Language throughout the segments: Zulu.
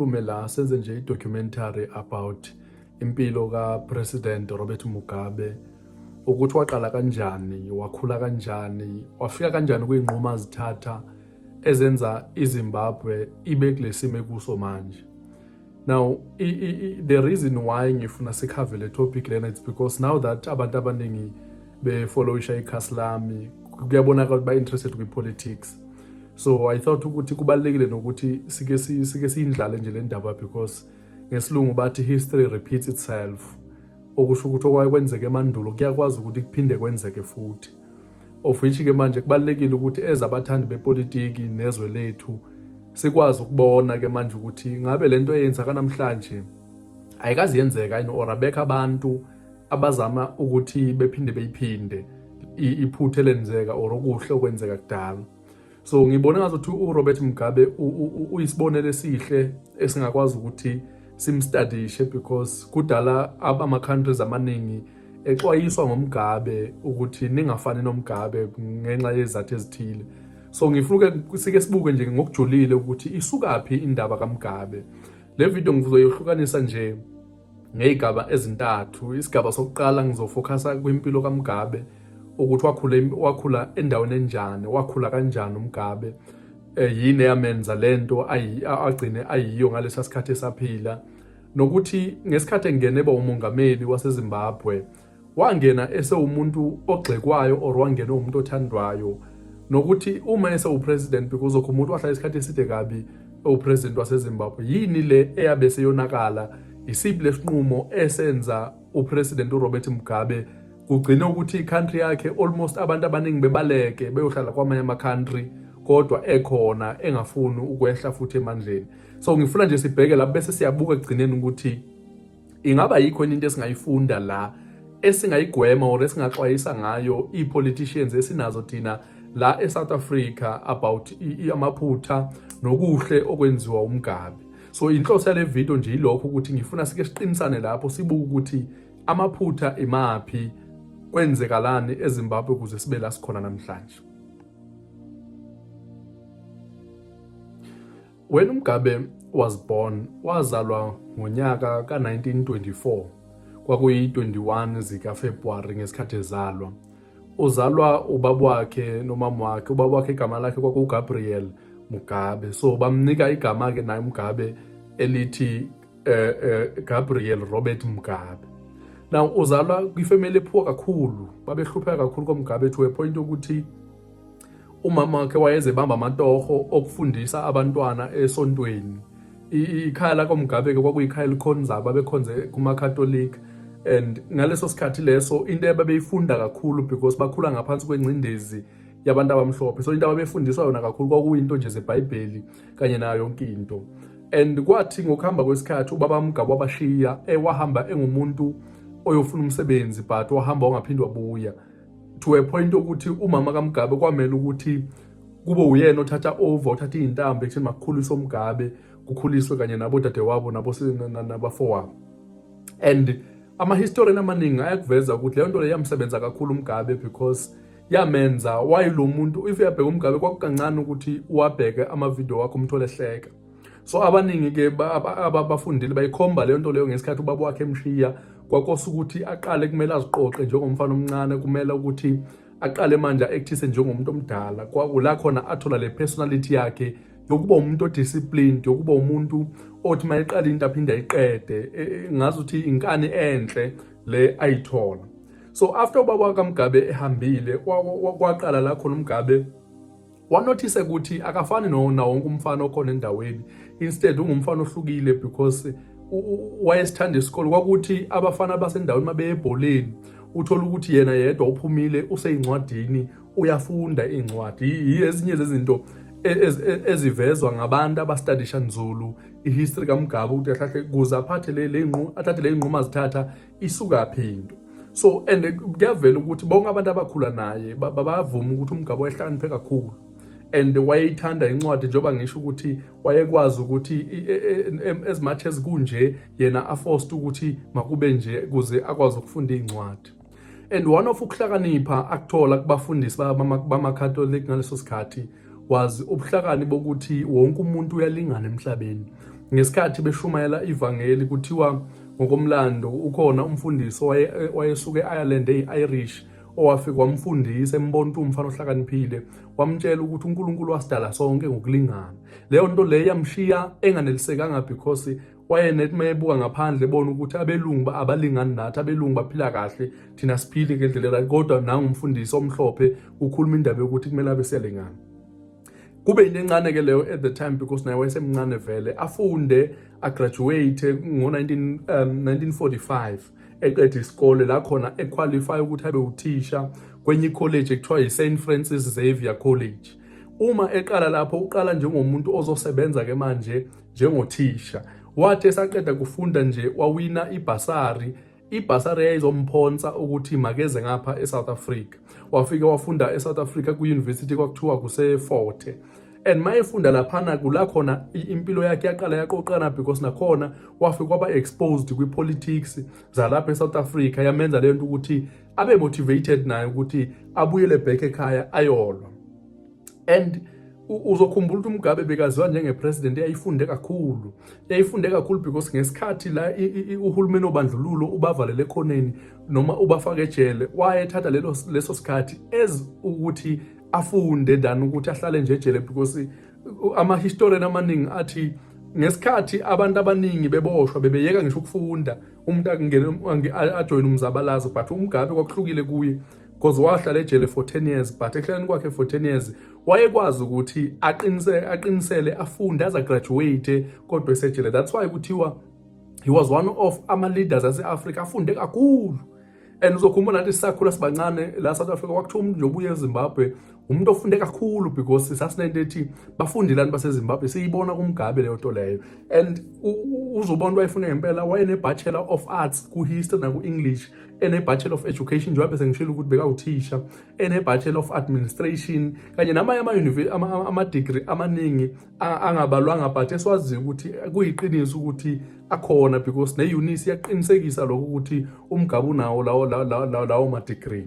siphume la senze nje i-documentary about impilo kaPresident Robert Mugabe ukuthi waqala kanjani wakhula kanjani wafika kanjani kwiy'nqumo azithatha ezenza izimbabwe ibe kulesimo ekuso manje now i, i, the reason why ngifuna sikhave le topic lena it's because now that abantu abaningi befollowisha ikhasi lami kuyabonakala ukuthi ba-interested kwi-politics so i thought ukuthi kubalekile nokuthi sike sike siyindlale nje le ndaba because ngesilungu bathi history repeats itself okusho ukuthi okwaye kwenzeke emandulo kuyakwazi ukuthi kuphinde kwenzeke futhi of which ke manje kubalekile ukuthi ezabathandi bepolitiki nezwe lethu sikwazi ukubona ke manje ukuthi ngabe lento eyenza kanamhlanje ayikazi yenzeka yini or abekho abantu abazama ukuthi bephinde beyiphinde iphuthe lenzeka or okuhle okwenzeka kudala so ngibona ngazothi uRobert Mugabe uyisibonelo esihle esingakwazi ukuthi simstadishe because kudala ama countries amaningi exwayiswa ngomgabe ukuthi ningafani nomgabe ngenxa yezathu ezithile so ngifuna sike sibuke nje ngokujulile ukuthi isukaphi indaba kaMgabe le video ngizoyohlukanisa nje ngey'gaba ezintathu isigaba sokuqala ngizofokhasa kwimpilo kaMugabe ukuthi wakhula wakhula endaweni enjani wakhula kanjani uMugabe eh, yini eyamenza lento agcine ayiyo ngalesa sikhathi esaphila nokuthi ngesikhathi engene ba umongameli waseZimbabwe wangena esewumuntu ogxekwayo or wangena umuntu othandwayo nokuthi uma esewupresident because okho umuntu wahlala isikhathi eside kabi ewupresident wasezimbabwe yini le eyabe seyonakala yisiphi lesinqumo esenza upresident urobert mugabe kugcine ukuthi icountry yakhe almost abantu abaningi bebaleke beyohlala kwamanye ama-country kodwa ekhona engafuni ukwehla futhi emandleni so ngifuna nje sibheke lapho bese siyabuka ekugcineni ukuthi ingaba yikho into esingayifunda la esingayigwema or esingaxwayisa ngayo ii-politicians esinazo thina la e-south africa about amaphutha nokuhle okwenziwa umgabe so inhloso yale video nje yilokho ukuthi ngifuna sike siqinisane lapho sibuke ukuthi amaphutha imaphi kwenzekalani ezimbabwe ukuze sibe la sikhona namhlanje Wena uMgabe was born wazalwa ngonyaka ka-1924 kwakuyi-21 zikaFebruwari ngesikhathi ezalwa uzalwa ubaba wakhe nomama wakhe ubaba wakhe igama lakhe kwakugabriel mugabe so bamnika igama-ke naye mugabe elithi eh, eh, gabriel robert mugabe now uzalwa kwifemeli ephuwa kakhulu babehlupheka kakhulu komugabe to a point yokuthi umama wakhe wayezebamba amatoho okufundisa abantwana esontweni ikhaya lakomgabe-ke kwakuyikhaya elikhonzaba abekhonze kumakatolika and ngaleso sikhathi leso into ababeyifunda kakhulu because bakhula ngaphansi kwengcindezi yabantu abamhlophe so into ababefundiswa yona kakhulu kwakuyinto nje zebhayibheli kanye nayo yonke into and kwathi ngokuhamba kwesikhathi ubaba mgaba wabashiya ewahamba eh, engumuntu oyofuna umsebenzi but wahamba wangaphinde wabuya to a point okuthi umama kaMgabe kwamele ukuthi kube uyena othatha over othatha izintambo ekutheni makukhuliswe uMgabe kukhuliswe kanye nabo dadewabo nabo nabafowabo and ama-historian amaningi ayakuveza ukuthi leyo nto le yamsebenza kakhulu umgabe because yamenza wayilomuntu if uyabheka umgabe kwakukancane ukuthi uwabheke amavidiyo wakho umthole hleka so abaningi ke abafundile bayikhomba leyo nto leyo ngesikhathi ubaba wakhe emshiya kwakosa ukuthi aqale kumele aziqoqe njengomfana omncane kumele ukuthi aqale manje actise njengomuntu omdala kwakula khona athola le personality yakhe yokuba umuntu odisciplined yokuba umuntu othi mayeqala into aphinde ayiqede e, e, ngazi ukuthi inkani enhle le ayithola so after ubaba kaMgabe ehambile kwaqala la khona uMgabe wanothise ukuthi akafani nona wonke umfana okhona endaweni instead ungumfana ohlukile because wayesithanda isikole kwakuthi abafana basendaweni mabeyebholeni uthola ukuthi yena yedwa uphumile useyincwadini uyafunda iy'ncwadi ezinye zezinto e, e, ezivezwa ngabantu abastadisha nzulu ihistory kamgabe ukuthi ahlahle kuze aphathe le athathe le nqumo azithatha isukaphi into so and kuyavela ukuthi bonke abantu abakhula naye babavuma ukuthi umgabo wayehlakaniphe kakhulu and wayeyithanda incwadi njengoba ngisho ukuthi wayekwazi ukuthi e, e, as much as kunje yena aforced ukuthi makube nje kuze akwazi ukufunda iy'ncwadi and one of ukuhlakanipha akuthola kubafundisi bamacatholic ngaleso sikhathi wazi ubuhlakani bokuthi wonke umuntu uyalingana emhlabeni ngesikhathi beshumayela ivangeli kuthiwa ngokomlando ukhona umfundisi wayesuke e-ireland eyi-irish owafike wamfundisa embonta umfana ohlakaniphile wamtshela ukuthi unkulunkulu wasidala sonke ngokulingana leyo nto leyo yamshiya enganelisekanga because wayenethi uma ebuka ngaphandle ebona ukuthi abelungu abalingani nathi abelungu baphila kahle thina siphile ngendlela erayi kodwa nangumfundisi omhlophe ukhuluma indaba yokuthi kumele abe siyalingana kube into encane ke leyo at the time because naye wayesemncane vele afunde agraduate ngo-1945 um, eqeda isikole la khona equalify ukuthi abe uthisha kwenye ikholeji ekuthiwa yi-st francis xavier college uma eqala lapho uqala njengomuntu ozosebenza-ke manje njengothisha. Wathi esaqeda kufunda nje wawina ibhasari ibhasari yayizomphonsa ukuthi makeze ngapha eSouth Africa. Wafike wafunda eSouth Africa kwi-university kwakuthiwa kuseForte and uma efunda laphana kula khona impilo yakhe yaqala yaqoqana because nakhona wafe kwaba exposed kwi-politics zalapha e-south africa yamenza le nto ukuthi abe motivated naye ukuthi abuyele back ekhaya ayolwa and uzokhumbula ukuthi uMugabe bekaziwa njengepresident eyayifunde kakhulu eyayifunde kakhulu because ngesikhathi la uhulumeni obandlululo ubavalele ekhoneni noma ubafake ejele wayethatha lelo leso sikhathi as ukuthi afunde than ukuthi ahlale nje ejele because ama-historian amaningi athi ngesikhathi abantu abaningi beboshwa bebeyeka ngisho ukufunda umuntu ajoyine umzabalazo but umgabe kwakuhlukile kuye because wahlala ejele for 10 years but ekuhlaleni kwakhe for 10 years wayekwazi ukuthi aqinisele aqinisele afunde aza graduate kodwa esejele that's why kuthiwa he was one of ama leaders ase Africa afunde kakhulu and uzokhumbula nathi sisakhula sibancane la South Africa kwakuthiwa umuntu nobuye eZimbabwe umuntu ofunde kakhulu because sasinento ethi bafundelani baseZimbabwe siyibona kumgabe leyo nto leyo and uzobona wayefuna ngempela wayene bachelor of arts ku history na ku English ene-bachelor of education njengoba bese ngishilo ukuthi bekawuthisha ene-bachelor of administration kanye namanye ama-degree amaningi angabalwanga but esiwaziyo ukuthi kuyiqiniso ukuthi akhona because ne-unisi iyaqinisekisa lokho ukuthi umgabe unawo lawo lawo ma-degree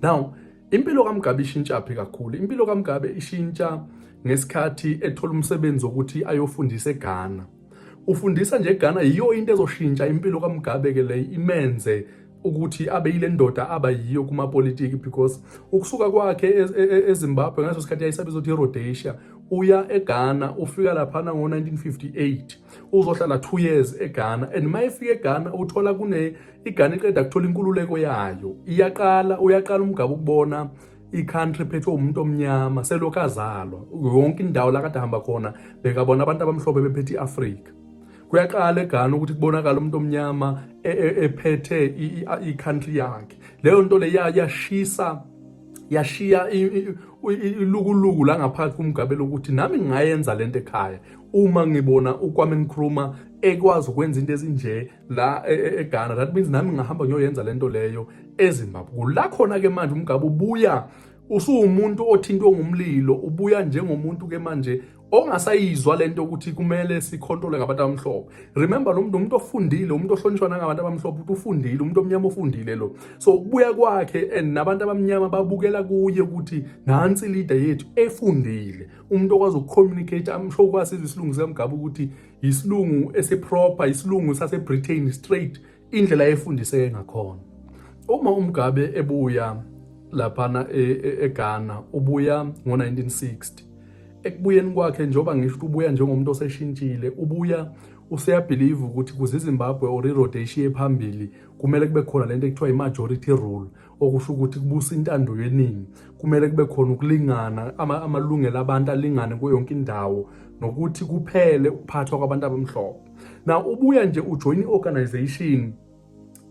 now impilo kamgabe ishintshaphi kakhulu impilo kamgabe ishintsha ngesikhathi ethola umsebenzi wokuthi ayofundisa eghana ufundisa nje Ghana yiyo into ezoshintsha impilo kaMugabe ke le imenze ukuthi abe yile ndoda aba yiyo kumapolitiki because ukusuka kwakhe e, e, e, eZimbabwe ngaso sikhathi yayisabiza ukuthi iRhodesia uya eGhana ufika laphana ngo-1958 uzohlala 2 years eGhana and uma efika eGhana uthola kune iGhana iqeda kuthola inkululeko yayo iyaqala uyaqala umgaba ukubona i-country phethwe umuntu omnyama selokhu azalwa yonke indawo la kade ahamba khona bekabona abantu abamhlophe bephethe i-afrika kuyaqala egana ukuthi kubonakala umuntu omnyama e, e, ephethe i-country yakhe leyo nto leya yashisa yashiya ilukuluku la ngaphakathi kumgabelo ukuthi nami ngingayenza lento ekhaya uma ngibona ukwame ngikhuluma ekwazi ukwenza into ezinje la e, e, eGhana that means nami ngahamba ngiyoyenza lento leyo eZimbabwe kula khona ke manje umgaba ubuya usuwumuntu othintwe ngumlilo ubuya njengomuntu ke manje ongasayizwa lento ukuthi kumele sikhontole ngabantu abamhlophe remember lo muntu umuntu ofundile umuntu ohlonishwa nangabantu abamhlophe uthi ufundile umuntu omnyama ofundile lo so ukubuya kwakhe and nabantu abamnyama babukela kuye ukuthi nansi leader yethu efundile umuntu okwazi ukucommunicate amsho kwasizwe isilungu sikamgaba ukuthi yisilungu esiproper isilungu sasebritain straight indlela efundiseke ngakhona uma umgabe ebuya laphana e, e, eghana ubuya ngo-1960 ekubuyeni kwakhe njengoba ngisho ukuthi ubuya njengomuntu oseshintshile ubuya useyabhiliva ukuthi kuze izimbabwe or irhodeshi ye phambili kumele kube khona le nto ekuthiwa i-majority rule okusho ukuthi kubusa intando yeningi kumele kube khona ukulingana amalungelo abantu alingane kuyo yonke indawo nokuthi kuphele ukuphathwa kwabantu abamhlophe na ubuya nje ujoyina i-organization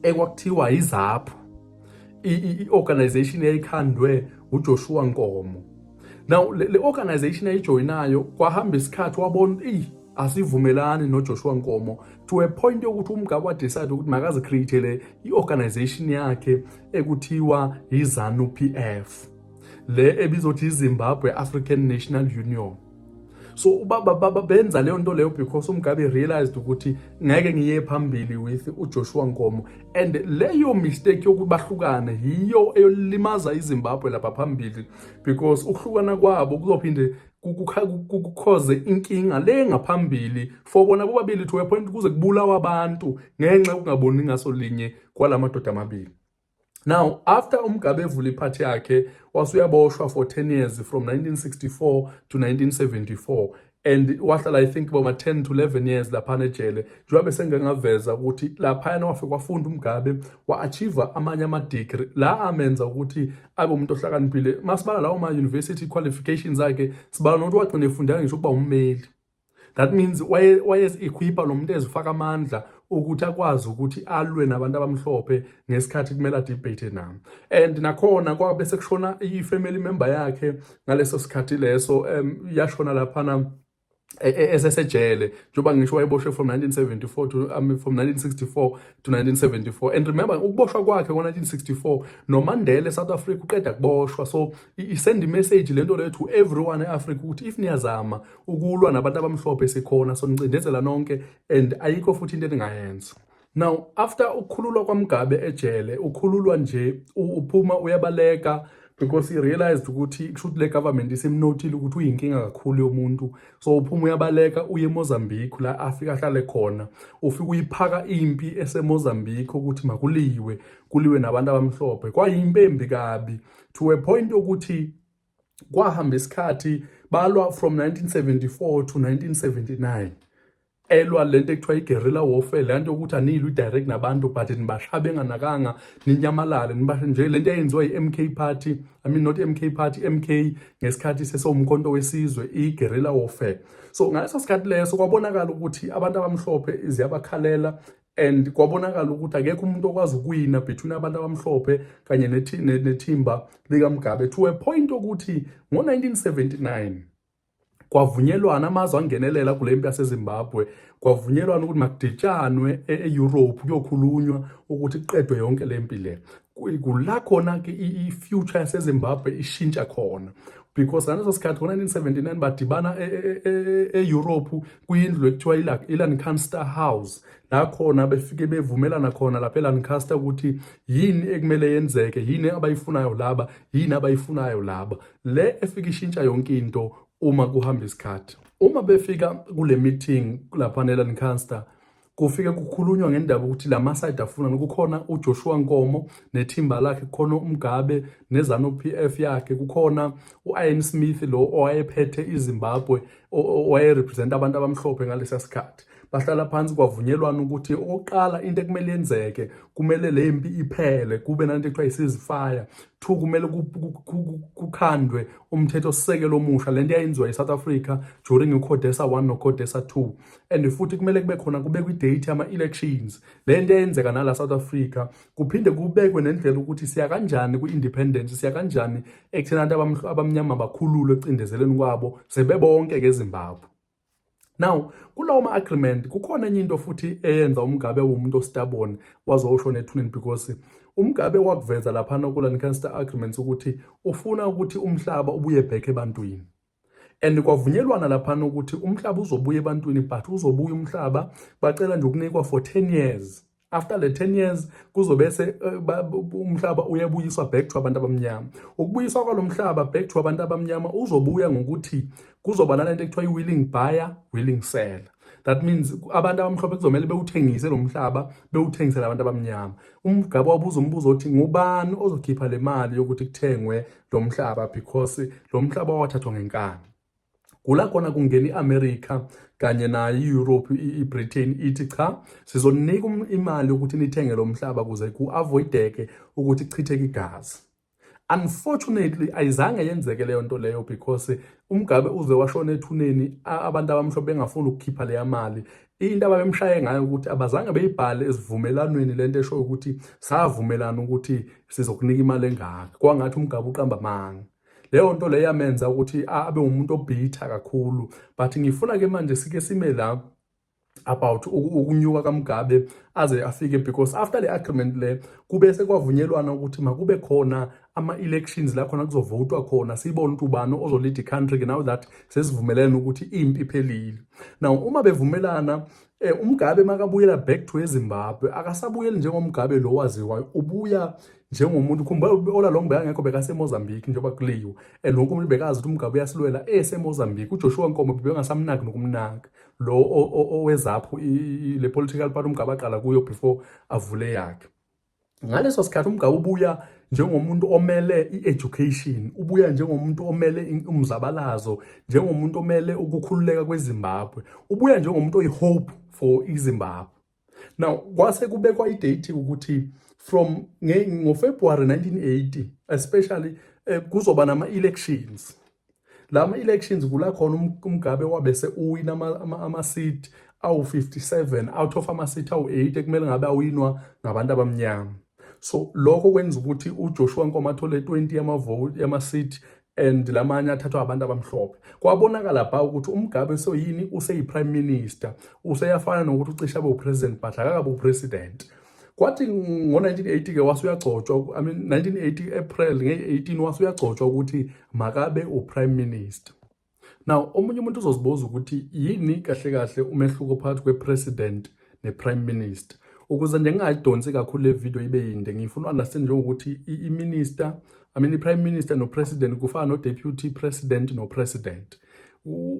ekwakuthiwa izaphu i-organization eyayikhandwe uJoshua Nkomo now le, le organization ayijoyinayo kwahamba isikhathi wabona eyi asivumelani noJoshua Nkomo to a point yokuthi umgabe wa decide ukuthi makazi create le iorganization yakhe ekuthiwa yiZanu PF le ebizothi iZimbabwe African National Union so ubaba baba benza leyo nto leyo because umgabe realized ukuthi ngeke ngiye phambili with uJoshua Nkomo and leyo mistake yokuthi bahlukane yiyo eyolimaza iZimbabwe lapha phambili because ukuhlukana kwabo kuzophinde kukhoze inkinga le ngaphambili for bona bobabili to a point kuze kubulawa abantu ngenxa yokungaboni ngaso linye kwalamadoda amabili Now after uMgabe evula iphathi yakhe wasuyaboshwa for 10 years from 1964 to 1974 and wahlala i think boma 10 to 11 years laphana ejele njengoba besengengaveza ukuthi laphayana wafike wafunda umgabe wa-achieve amanye ama-degree la amenza ukuthi abe umuntu ohlakaniphile masibala lawo ma-university qualifications akhe sibala nokuthi wagcina efundela ngisho ukuba ummeli that means wayezikhwipha lo muntu ezifaka amandla ukuthi akwazi ukuthi alwe nabantu abamhlophe ngesikhathi kumele adebate nami and nakhona kwabe sekushona i-family member yakhe ngaleso sikhathi leso um yashona laphana e, e, esesejele njengoba ngisho wayeboshwe from 1974 to um, from 1964 to 1974 and remember ukuboshwa kwakhe ngo-1964 nomandela esouth africa uqeda kuboshwa so isend imessage le nto leyo to everyone e-africa ukuthi if niyazama ukulwa nabantu abamhlophe sikhona sonicindezela nonke and ayikho futhi into eningayenza now after ukukhululwa kwamgabe ejele ukhululwa nje uphuma uyabaleka because he realized ukuthi kusho ukuthi le government isimnothile ukuthi uyinkinga kakhulu yomuntu so uphuma uyabaleka uye emozambique la afika ahlale khona ufike uyiphaka impi esemozambique ukuthi makuliwe kuliwe nabantu abamhlophe kwayimpembi kabi to a point ukuthi kwahamba isikhathi balwa from 1974 to 1979 elwa lento ekuthiwa i-guerrilla warfare le nto yokuthi aniyilwi direct nabantu but nibashaya benganakanga ninyamalale nibashe nje le nto eyenziwa i-m k party i mean not m k party m k ngesikhathi sesewumkhonto wesizwe i-guerrilla warfare so ngaleso sikhathi leso kwabonakala ukuthi abantu abamhlophe ziyabakhalela and kwabonakala ukuthi akekho umuntu okwazi ukuwina between abantu abamhlophe kanye nethimba likamugabe to a point okuthi ngo-1979 kwavunyelwana amazwe angenelela kule mpi yasezimbabwe kwavunyelwana ukuthi makuditshanwe e-, e-europe kuyokhulunywa ukuthi kuqedwe yonke le mpi le kula khona-ke i-future yasezimbabwe ishintsha khona because ngaleso sikhathi ngo-1979 badibana e-europe e-, e-, kwindlu ekuthiwa iLancaster House la khona befike bevumelana khona lapha eLancaster ukuthi yini ekumele yenzeke yini abayifunayo laba yini abayifunayo laba le efike ishintsha yonke into uma kuhamba isikhathi uma befika kule meeting lapha neLancaster kufike kukhulunywa ngendaba ukuthi la masayidi afuna kukhona uJoshua Nkomo nethimba lakhe kukhona uMgabe nezanu PF yakhe kukhona uIan Smith lo owayephethe iZimbabwe owayerepresent abantu abamhlophe ngalesa sikhathi bahlala phansi kwavunyelwana ukuthi okokuqala into ekumele yenzeke kumele le mpi iphele kube nanto ekuthiwa isizifaya two kumele kukhandwe umthetho sisekelo omusha lento yayenziwa eSouth Africa during uCodesa 1 noCodesa 2 and futhi kumele kube khona kubekwe idate yama-elections le nto eyenzeka nala south africa kuphinde kubekwe nendlela ukuthi siya kanjani kwi-independence siya kanjani ekutheni abantu abamnyama bakhululwe ecindezeleni kwabo sebebonke-ke ezimbabwe now kulawo ma-agreement kukhona enye into futhi eyenza umgabe womuntu ostabon wazowusho nethuneni because umgabe wakuveza laphana kula-ncanster agreements ukuthi ufuna ukuthi umhlaba ubuye back ebantwini and kwavunyelwana laphana ukuthi umhlaba uzobuya ebantwini but uzobuya umhlaba bacela nje ukunikwa for 10 years after le 10 years kuzobese eh, umhlaba uyabuyiswa back to abantu abamnyama ukubuyiswa kwalomhlaba back to abantu abamnyama uzobuya ngokuthi kuzoba nalento ekuthiwa i-willing buyer willing seller that means abantu abamhlophe kuzomele bewuthengise lo mhlaba bewuthengisele abantu abamnyama umgaba wabuza umbuzo othi ngubani ozokhipha le mali yokuthi kuthengwe lo mhlaba because lo mhlaba wathathwa ngenkani kula khona kungena i-america kanye nayo i-europe i-britain ithi cha sizonika imali yokuthi nithenge lo mhlaba kuze ku-avoideke ukuthi chitheke igazi unfortunately ayizange yenzeke leyo nto leyo because umgabe uze washona ethuneni abantu abamhlophe bengafuni ukukhipha leya mali into ababemshaye ngayo ukuthi abazange beyibhale esivumelanweni lento esho ukuthi savumelana ukuthi sizokunika imali engaka kwangathi umgabe uqamba amanga leyo nto leyo yamenza ukuthi abe umuntu obhitha kakhulu but ngifuna ke manje sike sime la about ukunyuka kaMugabe aze afike because after le agreement le kube sekwavunyelwana ukuthi makube khona ama-elections la khona kuzovotwa khona sibone ukuthi ubani ozolida i-country now that sesivumelene ukuthi impi iphelile now uma bevumelana eh umgabe makabuyela back to ezimbabwe akasabuyeli njengomgabe lo waziwayo ubuya njengomuntu khumbula ola long bekangekho bekasemozambique njengoba kuliwe and wonke umuntu bekazi ukuthi umgabe uyasilwela esemozambique ujoshua nkomo bebengasamnaki nokumnaka lo owezaphu le political party umgaba aqala kuyo before avule yakhe ngaleso sikhathi umgaba ubuya njengomuntu omele i-education ubuya njengomuntu omele umzabalazo njengomuntu omele ukukhululeka kwezimbabwe ubuya njengomuntu oyi-hope for izimbabwe now kwase kubekwa idate ukuthi from ngofebruary 1980 especially eh, kuzoba nama-elections la ma-elections kula khona um, umgabe wabese uwina ama-seat awu-57 out of ama-seat awu-8 ekumele ngabe awinwa ngabantu abamnyama so lokho kwenza ukuthi uJoshua Nkomo athole 20 yamavoti yama-seat and lamanye athathwa abantu abamhlophe kwabonakala bha ukuthi umgabe soyini useyi-prime minister useyafana nokuthi ucisha abe upresident but akakabe upresident kwathi ngo-1980 ke wase uyagcotshwa i mean 1980 april nge-18 wase uyagcotshwa ukuthi makabe uprime minister now omunye umuntu uzozibuza ukuthi yini kahle kahle umehluko phakathi kwepresident nePrime Minister ukuze nje ngingayidonsi kakhulu le video ibe yinde ngifuna understand njengokuthi i-minister I mean i-prime minister no-president kufana no-deputy president no-president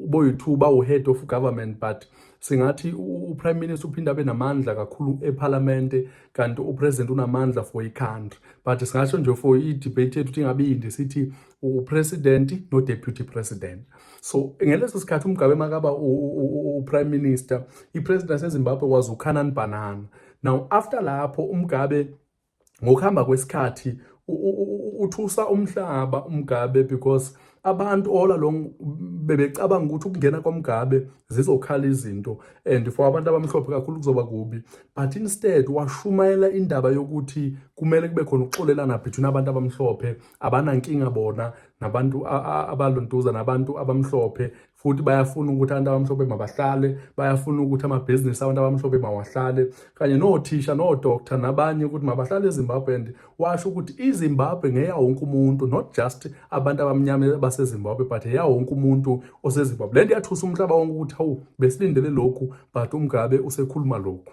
boyi-two bawu-head of government but singathi uprime minister uphinde abe namandla kakhulu ephalamende kanti upresident unamandla for icountry but singasho nje for i-debate yethu ukuthi ingabe yinde sithi upresident no-deputy president so ngeleso sikhathi umgabe makaba uprime minister ipresident yasezimbabwe kwazi ukhanani banana now after lapho umgabe ngokuhamba kwesikhathi uthusa umhlaba umgabe because abantu all along bebecabanga ukuthi ukungena kwamgabe zizokhala izinto and for abantu abamhlophe kakhulu kuzoba kubi but instead washumayela indaba yokuthi kumele kube khona ukuxolelana between abantu abamhlophe abanankinga bona nabantu abalontuza nabantu abamhlophe futhi bayafuna ukuthi abantu abamhlophe mabahlale bayafuna ukuthi amabhizinisi abantu abamhlophe mawahlale kanye nothisha nodoctor nabanye ukuthi mabahlale ezimbabwe and washo ukuthi izimbabwe ngeya wonke umuntu not just abantu abamnyama basezimbabwe but eya wonke umuntu osezimbabwe le nto yathusa umhlaba wonke ukuthi hawu besilindele lokhu but umgabe usekhuluma lokhu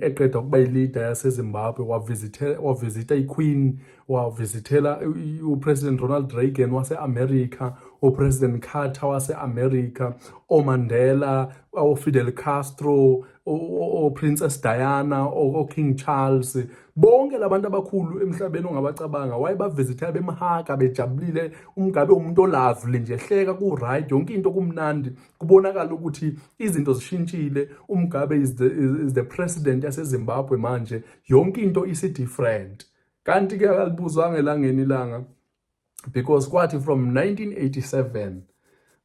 eqeda ukuba ilida yasezimbabwe wavizitha iqueen wavizithela upresident ronald reagan wase-america upresident carter wase-america omandela ofidel castro oprincess diana oking charles bonke labantu abakhulu emhlabeni ongabacabanga wayebavizithela bemhaka bejabulile umgabe umuntu olavely nje hleka ku-right yonke into kumnandi kubonakala ukuthi izinto zishintshile umgabe is the, is the president yasezimbabwe manje yonke into isi-different kanti ke akalibuzwanga elangeni ilanga because kwathi from 1987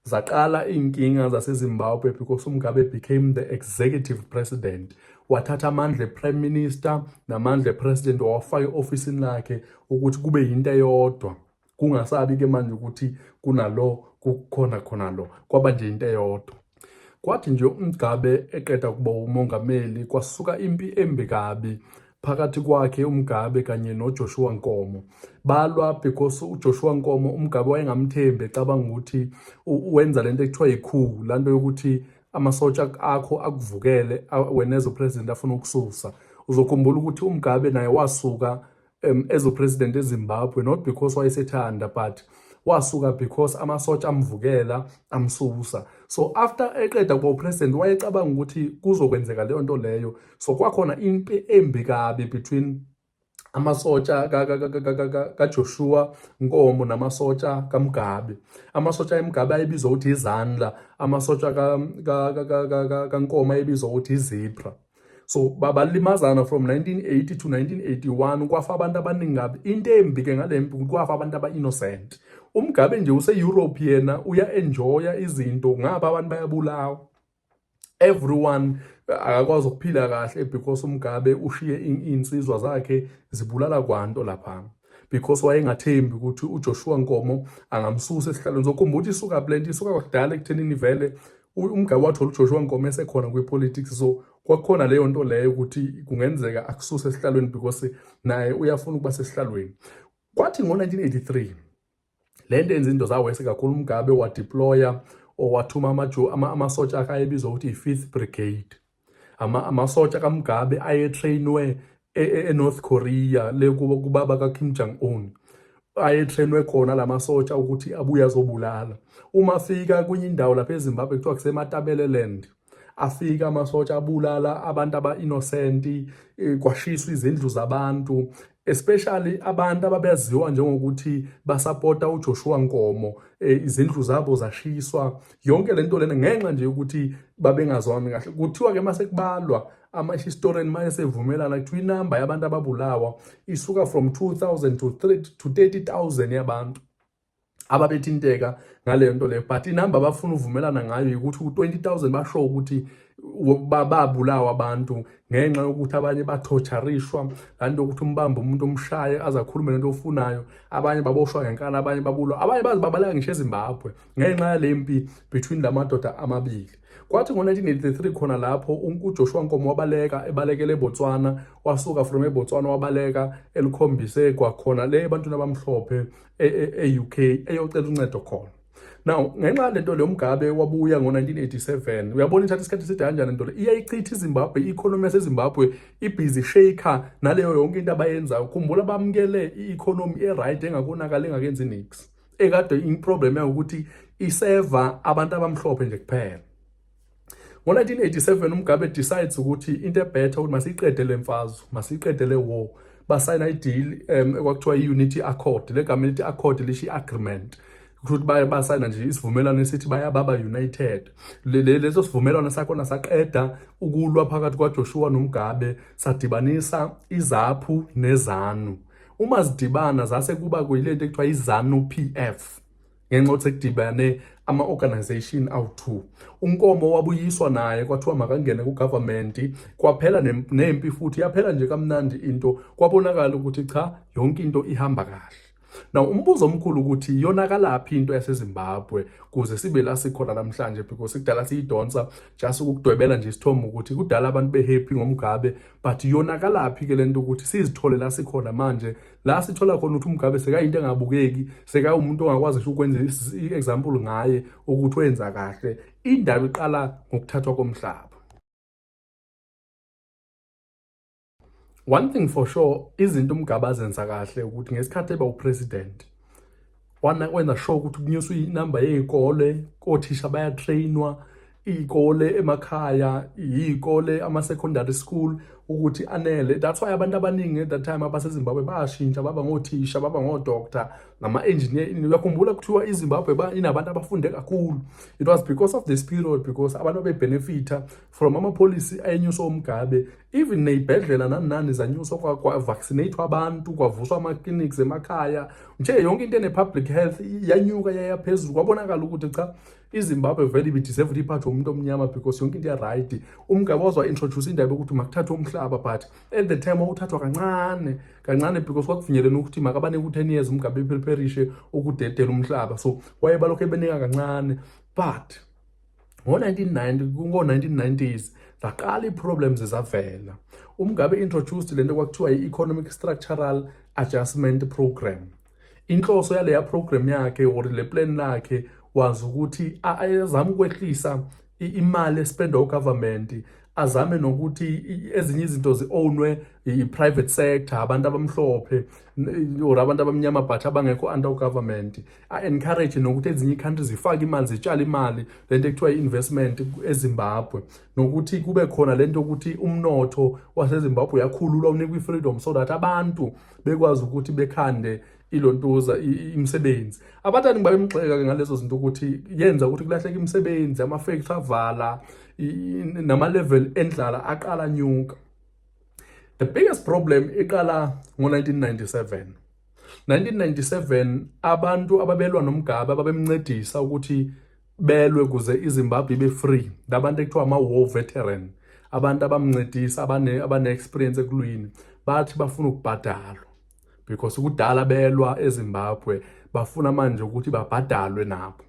zaqala iy'nkinga zasezimbabwe because umgabe became the executive president wathatha amandla eprime minister namandla epresident wawafaka e-ofisini lakhe ukuthi kube yinto eyodwa kungasabi ke manje ukuthi kunalo kukhona khona lo kwaba nje into eyodwa kwathi nje umgabe eqeda kuba umongameli kwasuka impi embi kabi phakathi kwakhe umgabe kanye nojoshua nkomo balwa because ujoshua nkomo umgabe wayengamthembi ecabanga ukuthi wenza lento ekuthiwa yikhulu lanto yokuthi amasotsha akho akuvukele wena ezopresident afuna ukususa uzokhumbula ukuthi umgabe naye wasuka um, as upresident ezimbabwe not because wayesethanda but wasuka because amasotsha amvukela amsusa so after eqeda kuba upresident wayecabanga ukuthi kuzokwenzeka leyo nto leyo so kwakhona impi embi kabi between amasotsha kaJoshua Nkomo namasotsha kaMgabe amasotsha eMgabe ayebizwa ukuthi izandla amasotsha kaNkomo ayebizwa ukuthi izipra so balimazana from 1980 to 1981 kwafa abantu abaningi kabi into embi ke ngale mpi kwafa abantu aba-innocent umgabe nje use-europe yena uya-enjoya izinto ngaba abantu bayabulawa everyone akakwazi ukuphila kahle because umgabe ushiye iy'nsizwa zakhe zibulala kwanto lapha because wayengathembi ukuthi uJoshua Nkomo angamsusa esihlalweni sokhumbula ukuthi isuka blend isuka kudala ekuthenini vele umgabe wathola uJoshua Nkomo esekhona kwipolitics so kwakhona leyo nto leyo ukuthi kungenzeka akususe esihlalweni because naye uyafuna ukuba sesihlalweni kwathi ngo-1983 le nto yenza into zawese kakhulu umgabe wadeploya or wathuma amasotsha akhe ayebizwa ukuthi i-fifth brigade amasotsha kamugabe ayetrainwe e, e, enorth korea le kubaba kakim jong un ayetrainwe khona la masotsha ukuthi abuye azobulala uma afika kwenye indawo lapha ezimbabwe kuthiwa kusematabeleland afika amasotsha abulala abantu aba-innosenti eh, kwashiswa izindlu zabantu especially abantu ababeziwa njengokuthi basapota uJoshua Nkomo eh, izindlu zabo zashiswa yonke lento lena ngenxa nje ukuthi babengazwani kahle kuthiwa ke mase kubalwa ama historian maye sevumelana kuthiwa inamba yabantu ababulawa isuka from 2000 to 30 to 30000 yabantu ababethinteka ngaleyo nto leyo but inamba abafuna uvumelana ngayo ukuthi u-20000 basho ukuthi babulawa abantu ngenxa yokuthi abanye bathotsharishwa laa nto yokuthi umbambe umuntu omshaye aze akhulume lento ofunayo abanye baboshwa ngenkana abanye babulwa abanye baze babaleka ngisho ezimbabwe ngenxa yale mpi between la madoda amabili kwathi ngo-1983 khona lapho ujoshua nkomo wabaleka ebalekele ebotswana wasuka from ebotswana wabaleka elikhombise kwakhona le ebantwini abamhlophe e-UK e, e eyocela uncedo khona now ngenxa yalento le umgabe wabuya ngo-1987 uyabona ithatha isikhathi eside kanjani nto le iyayichitha izimbabwe i-economy yasezimbabwe ibhizi shaker naleyo yonke into abayenzayo khumbula bamukele i-economy e-right engakonakali engakenzi nix ekade iproblem yayo ukuthi iseva abantu abamhlophe nje kuphela Ngo-1987 uMugabe decides ukuthi into ebhetha ukuthi masiyiqede le mfazwe masiyiqede le war basayina ideal um ekwakuthiwa i-unity accord le gama elithi accord lisho i-agreement ukuthi baye basayina nje isivumelwano esithi bayababa united leso sivumelwano sakhona saqeda ukulwa phakathi kwaJoshua noMugabe sadibanisa izaphu nezanu uma zidibana zase kuba kuyilento ekuthiwa izanu PF ngenxa yokuthi kudibane ama-organization awu-two unkomo wabuyiswa naye kwathiwa makangene ku-government kwaphela nempi futhi yaphela nje kamnandi into kwabonakala ukuthi cha yonke into ihamba kahle Now umbuzo omkhulu ukuthi iyonakalaphi into yaseZimbabwe kuze sibe la sikhona namhlanje because kudala siyidonsa just ukudwebela nje isithombe ukuthi kudala abantu behappy ngoMgabe but iyonakalaphi ke lento ukuthi sizithole la sikhona manje la sithola khona ukuthi umgabe sekayinto engabukeki sekawumuntu ongakwazi ngisho ukwenza i-example ngaye ukuthi wenza kahle indaba iqala ngokuthathwa komhlaba one thing for sure izinto umgabe azenza kahle ukuthi ngesikhathi eba upresident wana wenza sure ukuthi kunyuswa inamba yey'kole kothisha bayatrainwa iy'kole emakhaya iy'kole ama-secondary school ukuthi anele that's why abantu abaningi at that time abasezimbabwe bayashintsha baba ngothisha baba ngodoctor nama-engineer uyakhumbula kuthiwa izimbabwe inabantu abafunde kakhulu it was because of this period because abantu bebhenefitha from amapolisi ayenyusa omgabe even neyibhedlela nani nani zanyuswa kwa, kwa vaccinate abantu kwavuswa ama clinics emakhaya nje yonke into ene public health yanyuka yaya phezulu kwabonakala ukuthi cha iZimbabwe vele ibi deserve ukuthi iphathwe umuntu omnyama because yonke into ya right umgaba wazwa introduce indaba yokuthi makuthathwe umhlaba but at the time wawuthathwa kancane kancane because kwakufinyelena ukuthi makabane ku 10 years umgaba epherishe ukudedela umhlaba so wayebalokho ebenika kancane but ngo-1990 ngo-1990s zaqala ii-problems zavela umngabe introduced le nto kwakuthiwa i-economic structural adjustment program inhloso yaleya program yakhe or le plan lakhe wazi ukuthi azame ukwehlisa imali espendwa ugovernment azame nokuthi ezinye izinto zi-ownwe yi-private sector abantu abamhlophe or abantu abamnyama but abangekho under government a-encourage nokuthi ezinye i-country zifake imali zitshale imali le nto ekuthiwa i-investment ezimbabwe nokuthi kube khona le nto yokuthi umnotho wasezimbabwe uyakhululwa unikwa i-freedom so that abantu bekwazi ukuthi bekhande ilontuza imisebenzi abatani ngiba bemgxeka ke ngalezo zinto ukuthi yenza ukuthi kulahleke imisebenzi ama-factory avala nama-level endlala aqala nyuka the biggest problem iqala ngo-1997 1997 abantu ababelwa noMugabe ababemncedisa ukuthi belwe kuze iZimbabwe ibe free labantu ekuthiwa ama war veteran abantu abamncedisa abane abane experience ekulwini bathi bafuna ukubhadalwa because kudala belwa eZimbabwe bafuna manje ukuthi babhadalwe nabo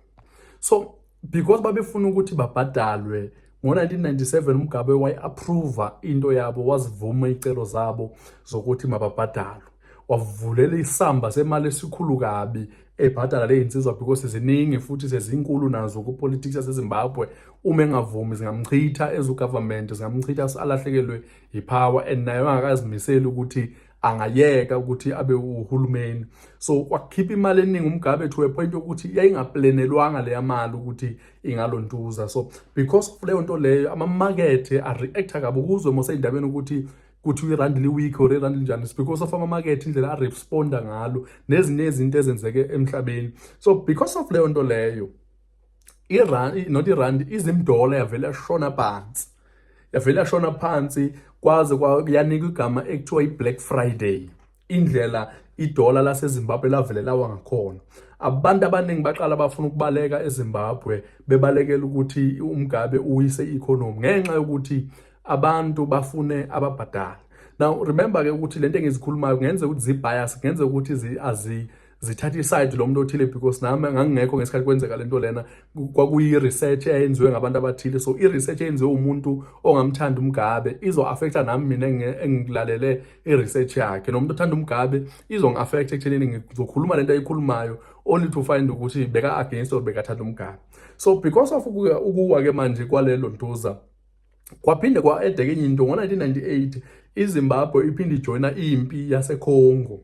so because babefuna ukuthi babhadalwe ngo-1997 umgabe wayi-approva into yabo wazivuma iy'celo zabo zokuthi mababhadalwe wavulela isamba semali esikhulu kabi ebhadala le yinsizwa because ziningi futhi sezinkulu nazo kupolitics yasezimbabwe uma engavumi zingamchitha ezugovernment zingamchitha alahlekelwe yipower and naye angakazimiseli ukuthi angayeka ukuthi abe uhulumeni so kwakhipha imali eningi umgabe to a point yokuthi yayingaplenelwanga leya mali ukuthi ingalontuza so because of leyo nto leyo amamakethe areacta kabi ukuzwe moseyindabeni ukuthi kuthi irandi liweak or irandi linjani because of amamakethe indlela aresponda ngalo nezinye izinto ezenzeke emhlabeni so because of leyo nto leyo irand not irand izimdola yavele yashona phansi yavele yashona phansi kwaze yanikwa igama ekuthiwa i-black friday indlela idola lasezimbabwe lavele lawa ngakhona abantu abaningi baqala bafuna ukubaleka ezimbabwe bebalekela ukuthi umgabe uwise i-economy ngenxa yokuthi abantu bafune ababhadala now remember-ke ukuthi le nto engizikhulumayo kungenzeka ukuthi zi-bias kungenzeka ukuthi azi zithatha isayidi lo muntu othile because nami ngangingekho ngesikhathi kwenzeka lento lena kwakuyi-research eyenziwe ngabantu abathile so i-research eyenziwe umuntu ongamthanda umgabe izo-affecta nami mina engilalele i-research yakhe nomuntu othanda umgabe izongi-affecta ekuthenini ngizokhuluma lento ayikhulumayo only to find ukuthi beka-against or bekathanda umgabe so because of ukuwa ke manje kwalelo ntuza Kwaphinde kwa-edeka enye into ngo-1998 iZimbabwe iphinde ijoyina impi yaseCongo.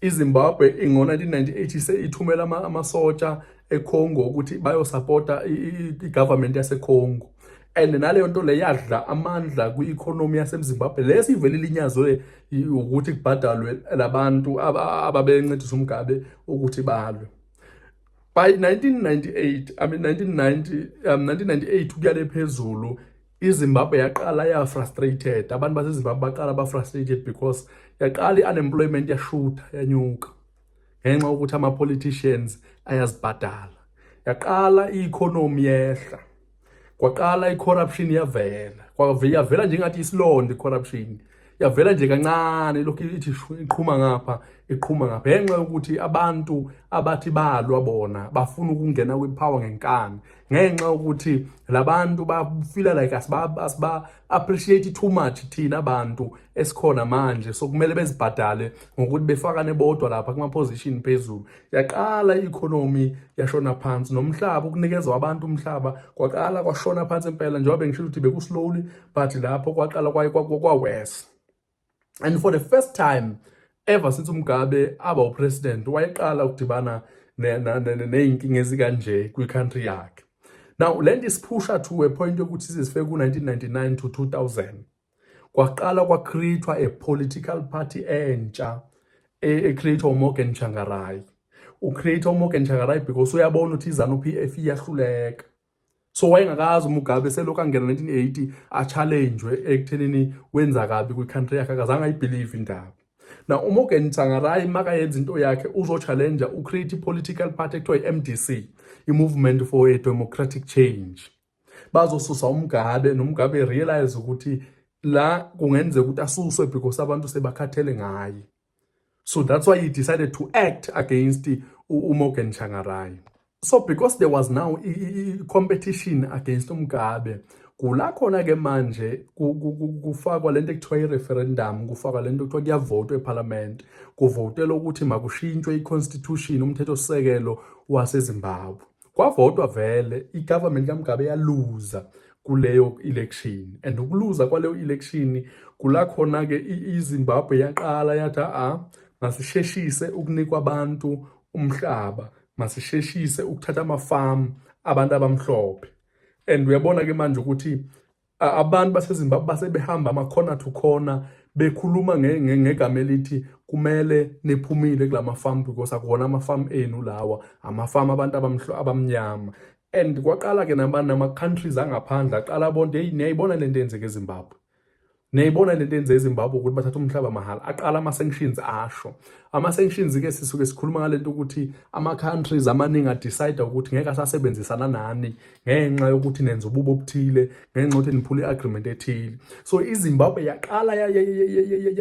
IZimbabwe ngo-1998 ise ithumela amasotsha eCongo ukuthi bayosapota i-government yaseCongo and naleyo nto le yadla amandla kwi-economy yasemzimbabwe le sivele ilinyazwe ukuthi kubhadalwe labantu ababencedisa umgabe ukuthi balwe by 1998 i mean 1990 um 1998 ukuyale phezulu izimbabwe yaqala yafrustrated abantu basezimbabwe baqala bafrustrated because yaqala i-unemployment yashutha yanyuka ngenxa yokuthi ama-politicians ayazibhadala yaqala i-economy yehla kwaqala i-corruption yavela yavela nje ngathi isilonda i-corruption yavela nje kancane lokhu ithi iqhuma ngapha iqhuma ngapha ngenxa yokuthi abantu abathi balwa bona bafuna ukungena kwipower ngenkani ngenxa yokuthi labantu bafila like asiba asiba appreciate too much thina abantu esikhona manje sokumele bezibhadale ngokuthi befakane bodwa lapha kuma position phezulu yaqala i-economy yashona phansi nomhlaba ukunikezwa abantu umhlaba kwaqala kwashona phansi impela njengoba bengishilo ukuthi bekuslowly but lapho kwaqala kwawesi and for the first time ever since umgabe aba upresident wayeqala ukudibana ney'nkinga ezikanje kwi-country yakhe now le nto isiphusha to a point yokuthi sizifike ku-1999 to 2000 kwaqala kwacreatwa a political party entsha ecreatwa uMorgan Tsvangirai ucreate uMorgan Tsvangirai because uyabona ukuthi izanu PF iyahluleka so wayengakazi uMugabe selokhu angena 1980 a challenge ekuthenini wenza kabi kwi country yakhe akazange ayibelieve indaba na uMorgan Tsvangirai maka yenza into yakhe uzo challenge ucreate political party ekuthiwa iMDC i movement for a democratic change bazosusa umgabe nomgabe realize ukuthi la kungenzeka ukuthi asuswe because abantu sebakhathele ngaye so that's why he decided to act against uMorgan Changarai so because there was now competition against umgabe kula khona ke manje kufakwa lento ekuthiwa i-referendum kufakwa lento ekuthiwa kuyavotwa ephalamende kuvotela ukuthi makushintshwe i-constitution umthethosisekelo wasezimbabwe kwavotwa vele i-government kaMugabe yaluza kuleyo election and ukuluza kwaleyo election kula khona ke iZimbabwe yaqala yathi a masisheshise ukunikwa abantu umhlaba masisheshise ukuthatha amafamu abantu abamhlophe and uyabona ke manje ukuthi Abantu baseZimbabwe basebehamba ama-corner to corner bekhuluma ngegama elithi kumele niphumile kula mafamu because akuwona amafamu enu lawa amafamu abantu abamnyama and kwaqala ke nama-countries angaphandle aqala abonto eyi niyayibona le nto yenzeka ezimbabwe niyayibona le nto yenze ezimbabwe ukuthi bathatha umhlaba mahhala aqala ama-sanctions asho ama-sanctions-ke sisuke sikhuluma ngale nto ukuthi ama-countries amaningi adicide ukuthi ngeke asasebenzisana nani ngenxa yokuthi nenza ububo obuthile ngenxa yokuthi niphula i-agreement ethile so izimbabwe yaqala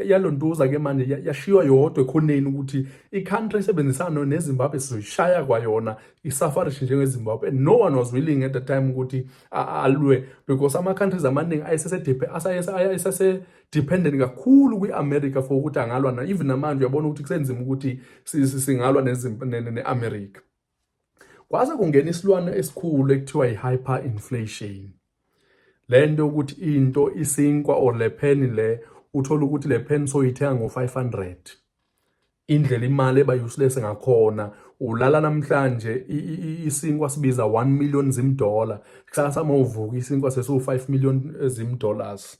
yalontuza-ke manje yashiywa yodwa ekhoneni ukuthi i-country esebenzisana nezimbabwe sizoyishaya kwayona isafarish njengezimbabwe and no one was willing at the time ukuthi alwe because ama-countries amaningi ayesese-dependent kakhulu kwi-america for ukuthi angalwa na even namanje uyabona ukuthi kusenzima ukuthi singalwa ne-america Kwaze kungena isilwane esikhulu ekuthiwa i-hyperinflation. Le nto yokuthi into isinkwa or le pheni le uthole ukuthi le pheni soyithenga ngo-500 indlela imali eba useless ngakhona ulala namhlanje isinkwa sibiza 1 million zimdola kusasa mawuvuka isinkwa sesiwu 5 million eh, zimdollars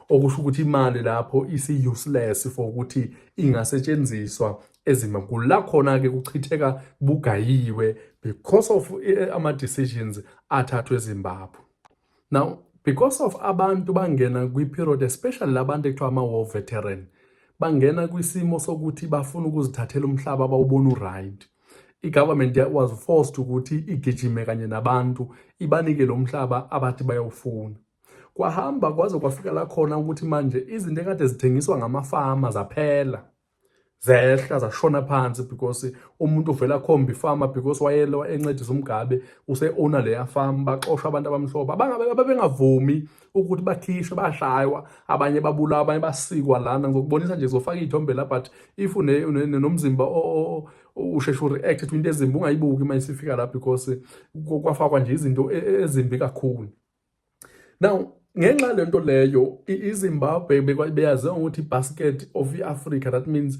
okusho ukuthi imali lapho isi useless for ukuthi ingasetshenziswa ezima kula khona ke kuchitheka bugayiwe because of eh, ama decisions athathwe eZimbabwe now because of abantu bangena kwi period especially labantu ekuthiwa ama war veteran bangena kwisimo sokuthi bafuna ukuzithathela umhlaba bawubona uright i-government was forced ukuthi igijime kanye nabantu ibanike lo mhlaba abathi bayawufuna kwahamba kwaze kwafika la khona ukuthi manje izinto ekade zithengiswa ngamafama zaphela zehla zashona phansi because umuntu uvela khomba ifama because wayelo encedisa umgabe use-owner leya farm baxosha abantu abamhlophe ababengavumi ukuthi bakhishwe bashaywa abanye babulawa abanye basikwa lana ngizokubonisa nje zofaka iy'thombe la but if nomzimba usheshe ureact to into ezimbi ungayibuki uma isifika la because kwafakwa nje izinto e, e, ezimbi kakhulu now ngenxa lento leyo izimbabwe beyaziwa ngokuthi basket of i-africa that means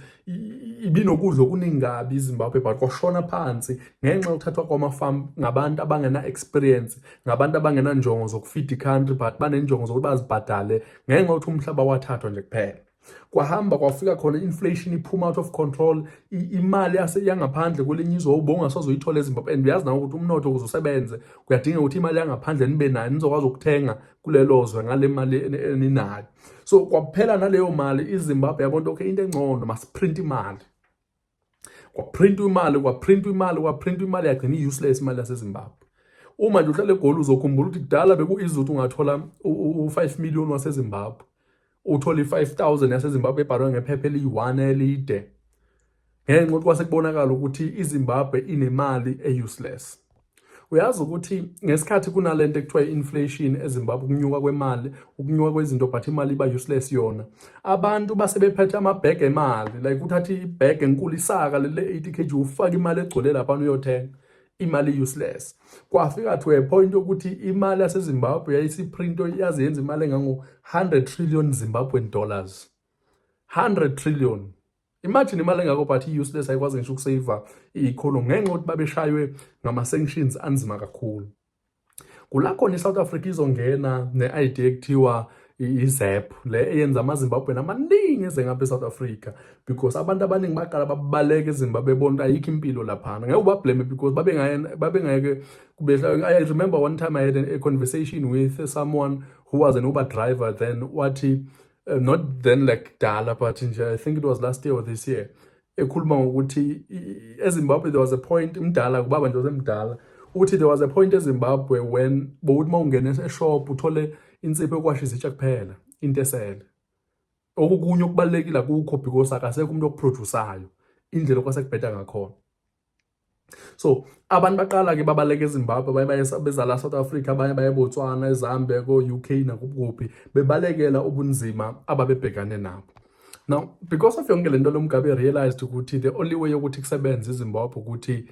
ibinokudla okuningi kabi izimbabwe but kwashona phansi ngenxa yokuthathwa kwamafamu ngabantu abangena-experience ngabantu abangenanjongo zokufida i-country but banenjongo zokuthi bazibhadale ngenxa yokuthi umhlaba wathathwa nje kuphela kwahamba kwafika khona inflation iphuma out of control imali yangaphandle kwelinye izwe ubonga sozoyithola eZimbabwe and uyazi nawe ukuthi umnotho ukuze usebenze kuyadinga ukuthi imali yangaphandle nibe nayo nizokwazi ukuthenga kulelo zwe ngale mali eninayo so kwaphela naleyo mali iZimbabwe yabona okay into engcono masiprint imali kwaprintwa imali kwaprintwa imali kwaprintwa imali yagcina i-useless imali yasezimbabwe uma nje uhlale egoli uzokhumbula ukuthi kudala beku-izut ungathola u-five million wasezimbabwe uthole i-five thousand yasezimbabwe ebhalwe ngephepha eliyi-one elide ngenxa ukuthi kwasekubonakala ukuthi izimbabwe inemali e-useless uyazi ukuthi ngesikhathi kunalento ekuthiwa i-inflation ezimbabwe ukunyuka kwemali ukunyuka kwezinto but imali iba useless yona abantu base bephethe amabhege emali like uthathe ibhege enkulu isaka lele 80 kg ufake imali egcwele lapha uyothenga imali useless kwafika to a point ukuthi imali yasezimbabwe yayisiprint yaze yenza imali engango-100 trillion zimbabwean dollars 100 trillion Imagine imali engako but i-useless ayikwazi ngisho ukusave i-economy ngenxa yokuthi babeshaywe ngama-sanctions anzima kakhulu. Kula khona i-South Africa izongena ne-ID ekuthiwa i-ZEP le eyenza amaZimbabwean amaningi eze ngapha e-South Africa because abantu abaningi baqala babaleke eZimbabwe bebona ukuthi ayikho impilo laphana ngeke ubablame because babengeke kubehla I remember one time I had a conversation with someone who was an Uber driver then wathi uh, not then like dala but nje i think it was last year or this year ekhuluma ngokuthi ezimbabwe there was a point mdala kubaba nje osemdala uthi there was a point ezimbabwe when bowuthi uma ungena eshop uthole insipho yokwasha izitsha kuphela into esele okukunye okubalulekile akukho because akasekho umuntu okuprodusayo indlela okwasekubheda ngakhona so abantu baqala ke babaleka ezimbabwe abanye baye beza la south africa abanye baye botswana ezambia ko-u k nakuphi bebalekela ubunzima ababebhekane nabo now because of yonke le nto lomgabe realized ukuthi the only way yokuthi kusebenze izimbabwe ukuthi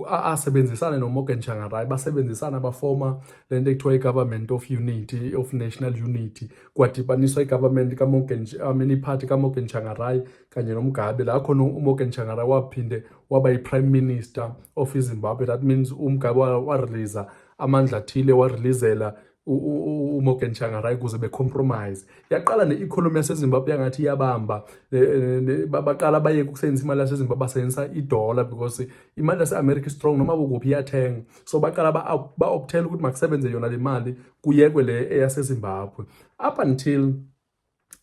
asebenzisane nomorgan shangarai basebenzisana bafoma le nto ekuthiwa i-government of unity of national unity kwadibaniswa i-government kamorgan amini iphathi kamorgan shangarai kanye noMgabe la khona uMorgan Changara waphinde waba yi-prime minister of iZimbabwe that means uMgabe warelease amandla athile wareleasela uMorgan Changara ukuze becompromise yaqala ne-economy yaseZimbabwe yangathi iyabamba e, e, baqala bayeke ukusebenzisa imali yaseZimbabwe basebenzisa idollar because imali yase-America strong noma kukuphi iyathenga so baqala ba-optela ukuthi makusebenze yona le mali kuyekwe le eyaseZimbabwe up until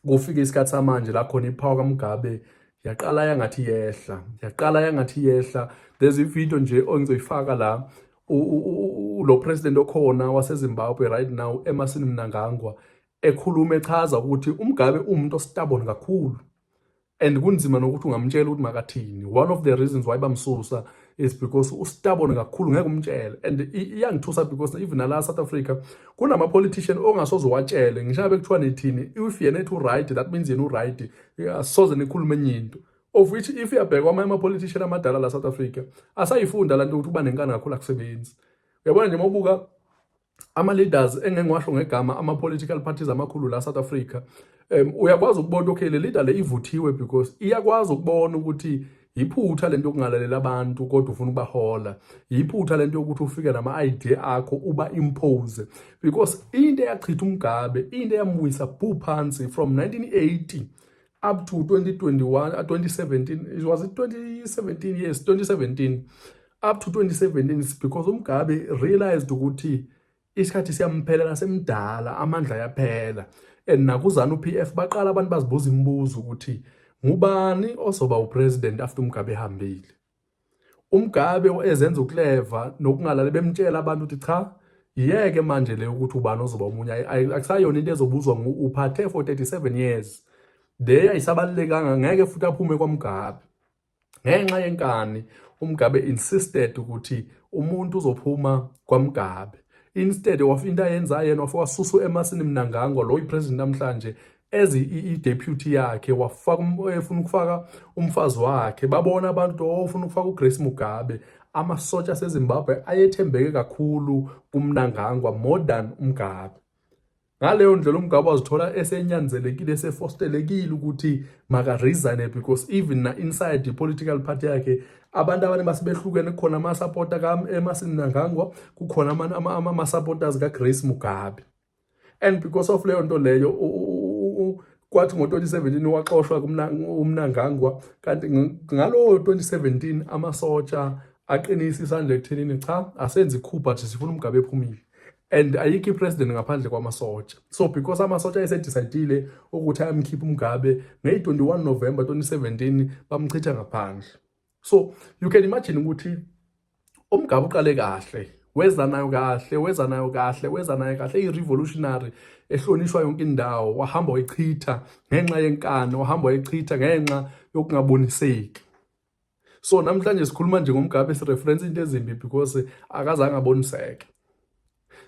kufike isikhathi samanje la khona iphawa kaMugabe yaqala yangathi yehla yaqala yangathi yehla there's a video nje ongizoyifaka la lo president okhona waseZimbabwe right now emasini mnangangwa ekhuluma echaza ukuthi uMugabe umuntu ostabon kakhulu and kunzima nokuthi ungamtshela ukuthi makathini one of the reasons why bamsusa is because ustabone kakhulu ngeke umtshele and iyangithusa because even nala South Africa kunama politician ongasoze watshele ngisho ngabe kuthiwa nithini if yena ethi right that means yena uright asoze nikhulume enye into of which if uyabheka amanye ama politician amadala la South Africa asayifunda lanto ukuthi uba nenkani kakhulu akusebenzi uyabona nje mawubuka ama-leaders engengiwasho ngegama ama-political parties amakhulu la South Africa um uyakwazi ukubona okay le leader le ivuthiwe because iyakwazi ukubona ukuthi yiphutha lento yokungalalela abantu kodwa ufuna ubahola yiphutha lento yokuthi ufike nama idea akho uba impose because into eyachitha umgabe into eyambuyisa bhu phansi from 1980 up to 2021 uh, 2017 it was it 2017 yes 2017 up to 2017 is because umgabe realized ukuthi isikhathi siyamphelela nasemdala amandla yaphela and nakuzana uPF baqala abantu bazibuza imibuzo ukuthi ngubani ozoba upresident after umgabe ehambile uMgabe ezenza ukuleva nokungalali bemtshela abantu ukuthi cha yeke manje le ukuthi ubani ozoba omunye akusayona into ezobuzwa uphathe for 37 years le ayisabalulekanga ngeke futhi aphume kwaMgabe ngenxa yenkani uMgabe insisted ukuthi umuntu uzophuma kwaMgabe instead of into ayenzayo yena wasusu emasini mnangangwa lo ipresident namhlanje as i-deputy yakhe wafaka um, efuna ukufaka umfazi wakhe babona abantu ofuna oh, ukufaka uGrace Mugabe amasotsha aseZimbabwe ayethembeke kakhulu kumnangangwa more than uMgabe ngaleyo ndlela uMgabe wazithola esenyanzelekile esefostelekile ukuthi maka resign because even na inside the political party yakhe abantu abane basebehlukene kukhona ama supporter ka eMasini Nangangwa kukhona ama ama supporters ka Grace Mugabe and because of leyo nto leyo kwathi ngo-2017 waxoshwa umnangangwa kanti ngalowo 2017 amasotsha aqinisa isandla ekuthenini cha asenzi coup but sifuna umgabe ephumile and ayikho ipresident ngaphandle kwamasotsha so because amasotsha ayesedicidile ukuthi ayamkhipha umgabe ngeyi-21 november 2017 bamchitha ngaphandle so you can imagine ukuthi umgabe uqale kahle weza nayo kahle weza nayo kahle weza nayo kahle i-revolutionary ehlonishwa yonke indawo wahamba wayichitha ngenxa yenkani wahamba wayichitha ngenxa yokungaboniseki so namhlanje sikhuluma nje ngomgabe sireference into ezimbi because akazange aboniseke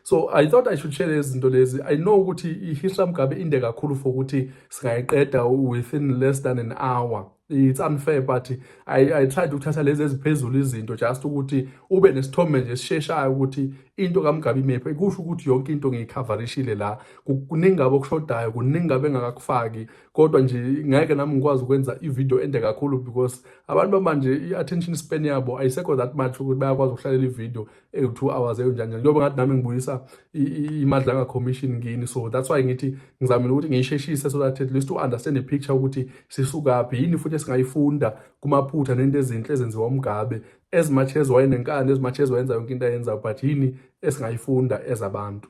so i thought i should share izinto lezi i know ukuthi i-history mgabe inde kakhulu for ukuthi singayiqeda within less than an hour it's unfair but i, I tried ukuthatha lezi eziphezulu izinto just ukuthi ube nesithombe nje esisheshayo ukuthi into kamgabe imephi kusho ukuthi yonke into ngiyikhavarishile la kuningi ngabe okushodayo kuningi ngabe engakakufaki kodwa nje ngeke nami ngikwazi ukwenza ivideo ende kakhulu because abantu bamanje i-attention span yabo ayisekho that much ukuthi bayakwazi ukuhlalela ivideo ewu-two hours eyonjani njengoba ngathi nami ngibuyisa imadlanga commission ngini so that's why ngithi ngizamile ukuthi ngiyisheshise so that at least u-understand ipicture ukuthi sisukaphi yini futhi esingayifunda kumaphutha nento ezinhle ezenziwa umgabe as much as wayenenkani as much as wayenza yonke into ayenzayo but yini esingayifunda ezabantu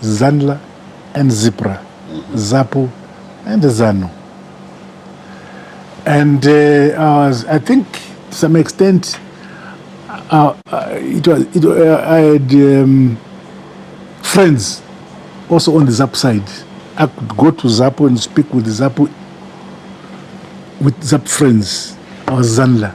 Zanla and Zipra, Zapu and Zanu. And uh, I, was, I think to some extent, uh, uh it was, it, uh, I had um, friends also on the Zapu side. I could go to Zapu and speak with the Zapu, with Zapu friends. I was Zanla.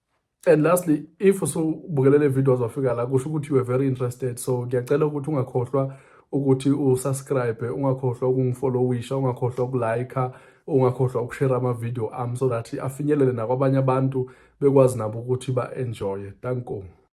and lastly if usubukele le video wazwafika la kusho ukuthi you were very interested so ngiyacela ukuthi ungakhohlwa ukuthi usubscribe ungakhohlwa ukungifollowisha ungakhohlwa ukulike ungakhohlwa ukushare amavideo ami so that afinyelele nakwabanye abantu bekwazi nabo ukuthi ba-enjoye danko